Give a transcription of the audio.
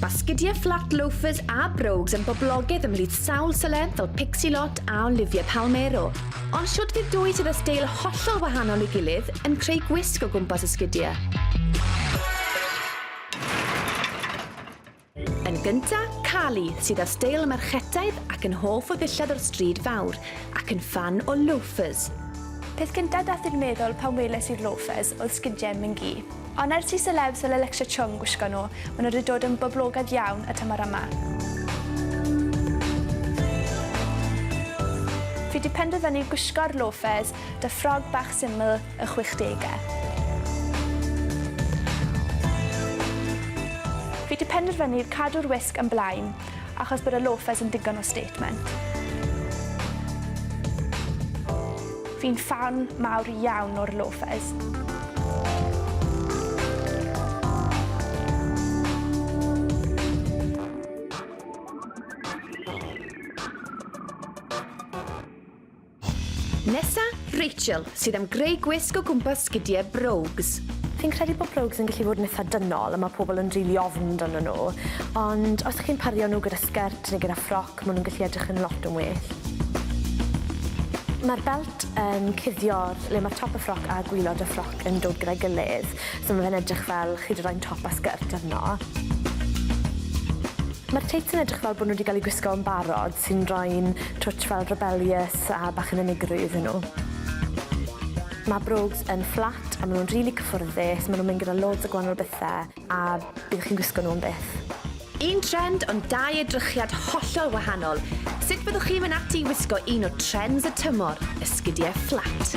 Basgidiau fflat loafers a brogues yn boblogaidd ymhlith sawl seleb fel Pixie Lott a Olivia Palmero. Ond shwt fydd dwy sydd â steil hollol wahanol ei gilydd yn creu gwisg o gwmpas y sgidiau? Yn gynta, Carly, sydd â steil merchetaidd ac yn hoff o ddillad o'r stryd fawr, ac yn ffan o loafers. Peth cynta dath i'r meddwl pan weles i'r loafers oedd sgidiau Mingi. Ond er ti selebs fel Alexa Chung gwisgo nhw, maen nhw wedi dod yn boblogaidd iawn y tymor yma. Fi 'di penderfynu gwisgo'r loafers 'da ffrog bach syml y chwechdegau. Fi 'di penderfynu cadw'r wisg yn blaen. achos bod y loafers yn digon o statement. Fi'n ffan mawr iawn o'r loafers. Nesa, Rachel, sydd am greu gwisg o gwmpas sgidiau brogues. Fi'n credu bod brogues yn gallu bod yn eitha dynol a mae pobl yn rili ofn amdano nhw, ond os chi'n pario nhw gyda sgert neu gyda ffroc, maen nhw'n gallu edrych yn lot yn well. Mae'r belt yn cuddio le mae top y ffroc a gwylod y ffroc yn dod gyda'i gilydd, so mae fe'n edrych fel chi 'di rhoi'n top a sgert arno. Mae'r teits yn edrych fel bod nhw wedi cael eu gwisgo yn barod, sy'n rhoi'n twtsh fel rebellious a bach yn unigryw iddyn nhw. Mae Brogues yn fflat a maen nhw'n rili cyffyrddus, maen nhw'n mynd gyda loads o gwahanol bethe a byddwch chi'n gwisgo nhw am byth. Un trend ond dau edrychiad hollol wahanol, sut byddwch chi'n mynd ati i wisgo un o trends y tymor, esgidiau fflat?